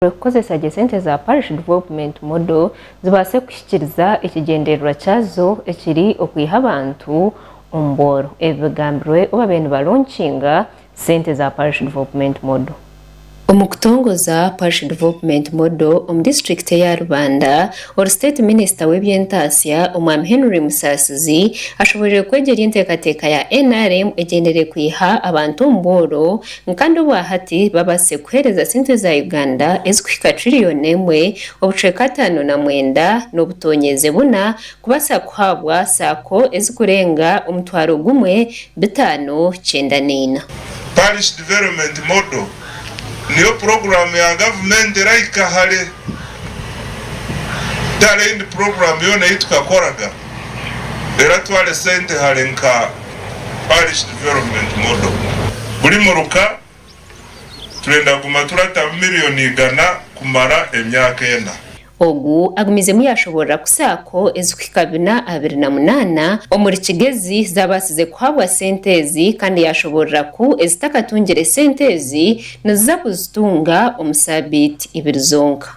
bateereire kukozesa gye sente za Parish Development Model zibaase kuhikiiriza ekigyendererwa kyazo ekiri okwiha abantu omu bworo. Ebi bigambirwe obu baabaire nibalonkinga sente za Parish Development Model. Omu kutongoza Parish Development Model omu disiturikiti eya Rubanda, Ori State Minister w'eby'entaatsya Omwami Henry Musaasizi ashoboreire kwegyeria enteekateeka ya nrm egyendereire kwiha abantu omu bworo, Nkande obwahati babaase kuheereza sente za Uganda ezikuhika trillion emwe, obucweka ataano na mwenda n'obutonyeeze buna kubaasa kuhaabwa saako ezikurenga omutwaro gumwe bitaano kyenda neina. Parish Development Model niyo puroguramu ya gavumenti erahika hare kutara endi puroguramu yoona ei tukakoraga eratware sente hare nka. Parish Development Model. Buri muruka turenda kuguma turatamu miriyoni igana kumara emyaka ena. Ogu agumizemu yaashoboorora ku saako ezikuhika bina abiri na munaana omuri Kigezi zaabaasize kuhabwa sente ezi kandi yaashoboorora ku ezitakatungire sente ezi niziza kuzitunga omu saabiiti ibiri zonka.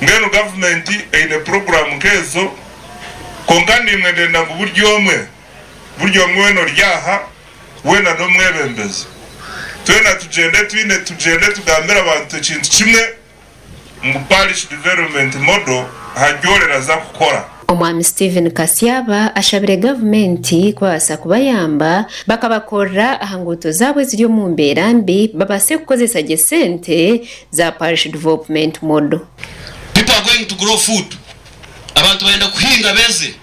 Mbwenu gavumenti eine puroguraamu nk'ezo, kwonka niimwe ndenda ngu buri omwe, buri omwe weena ori aha, weena n'omwebembezi, twena tugyende twine, tugyende tugambire abantu ekintu kimwe, ngu Parish Development Model aha ry'oreeraza kukora. Omwami Steven Kasyaba ashabire gavumenti kubabaasa kubayamba bakabakorera aha nguuto zaabo eziri omu mbeera mbi babaase kukozesa gye sente za Parish Dvopment Model. People are going to grow food abantu bayenda kuhinga beeze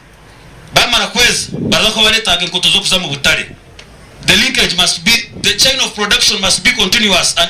bamara kweeza baraza kuba baretaaga enkoto z'okuza mu butare the linkage must be the chain of production must be continuous and